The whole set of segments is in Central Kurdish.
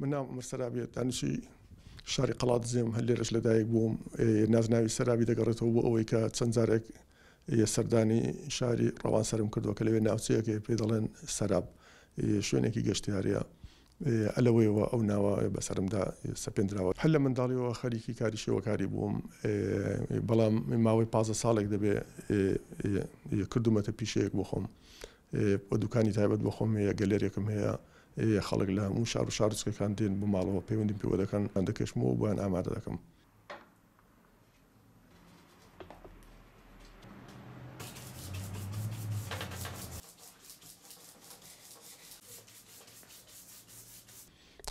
من ناوم عومەر سەرابیە، دانشی شاری قەڵادزێم، هەر لێرەش لە دایک بووم. نازناوی سەرابی دەگەڕێتەوە بۆ ئەوەی کە چەند جارێک سەردانی شاری ڕەوانسەرم کردووە کە لەوێ ناوچەیەک هەیە پێی دەڵێن سەراب، شوێنێکی گەشتیارییە. لەوەیەوە ئەو ناوە بەسەرمدا سەپێندراوە. هەر لە منداڵییەوە خەریکی کاری شێوەکاری بووم، بەڵام ماوەی پازدە ساڵێک دەبێ کردوومەتە پیشەیەک بۆ خۆم. و دوکانی تایبەت بۆ خۆم هەیە گەلەرێکم هەیە خەڵک لە هەموو شار و شارۆچکەکان دێن بۆ ماڵەوە پەیوەندیم پێوە دەکەن یان دەکێشمەوە بۆیان ئامادە دەکەم.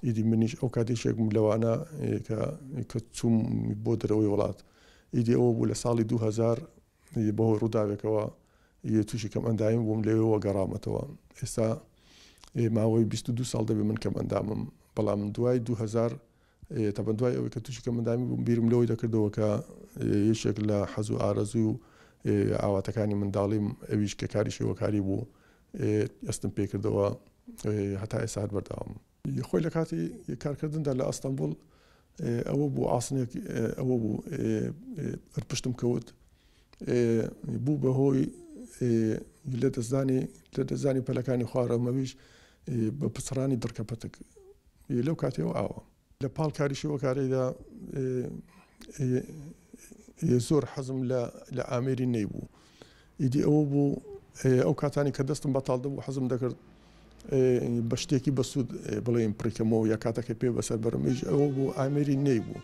ئیدی منیش ئەو کاتێکێکم لەوانە کە کە چووم بۆ دەرەوەی وڵات ئیدی ئەوە بوو لە ساڵی 2000 ی بەهۆی ڕووداوێکەوە ی تووشی کەمئەندامی بووم لەوێوە گەڕامەتەوە ئێستا ی ماوەی بیست و دوو ساڵ دەبێ من کەمئەندامم بەڵام دوای دوو هەزار ی تەبەن دوای ئەوەی کە تووشی کەمئەندامی بووم بیرم لەوەی دەکردەوە کە ی یەکێک لە حەز و ئارەزوو و ی ئاواتەکانی منداڵیم ئەویش کە کاری شێوەکاری بوو ی ئەستم پێ کردەوە ی هەتا ئێستا هەر بەردەوامم. ی خۆی لەکاتی کارکردندا لە ئەستەنبوڵ ئەوە بوو عاسنێک ئەوە بوو ەر پشتم کەوت بوو بە هۆی لە دەستدانی لە دەستدانی پەلەکانی خوارەومەویش بە پچڕانی دڕکە پەتک لەو کاتەوە ئاوە لە پاڵ کاری شێوەکارەیدا زۆر حەزم لە ئامێری نەیبوو ئیدی ئەوە بوو ئەو کاتانەی کە دەستم بەتاڵ دەبوو حەزم دەکرد بە شتێکی بەسوود بڵێم پڕیکەمەوە یا کاتەکە پێ بەسەر بەرم ئیش ئەوە بوو ئامێری نەی بوو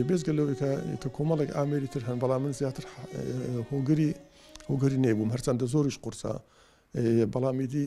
بێزگە لەوەی کە کە کۆمەڵێک ئامێری تر هەن بەڵام من زیاتر هۆگری هۆگری نەی بووم هەرچەندە زۆریش قورسە بەڵامیدی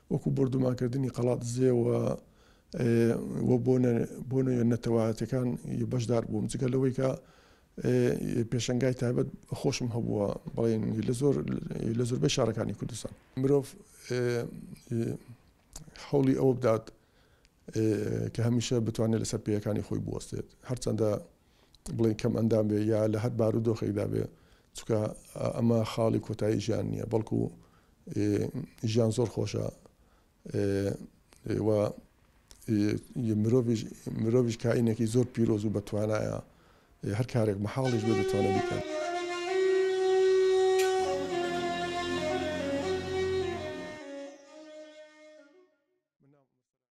وەکو بۆردومانکردنی قەڵادزێ و و بۆ نە نەتەوایەتەکان بەشدار بووم جگە لەوەی کە پێشنگای تایبەت خۆشم هەبووە بڵێن لە زۆر لە زۆربەی شارەکانی کوردستان مرۆڤ حوڵی ئەوە بدات کە هەمیشە بتوانێت لەسەر پێیەکانی خۆی بوەستێت هەرچەندە بڵێین کەم ئەندام بێ یا لە هەر بارودۆخێکدا بێ چکە ئەمە خاڵی کۆتایی ژیان نییە بەڵکو ژیان زۆر خۆشە مرۆڤش کاینێکی زۆر پیرۆز و بەتوانایە هەر کارێک مەحاڵش بێ دەتوانێت بکات.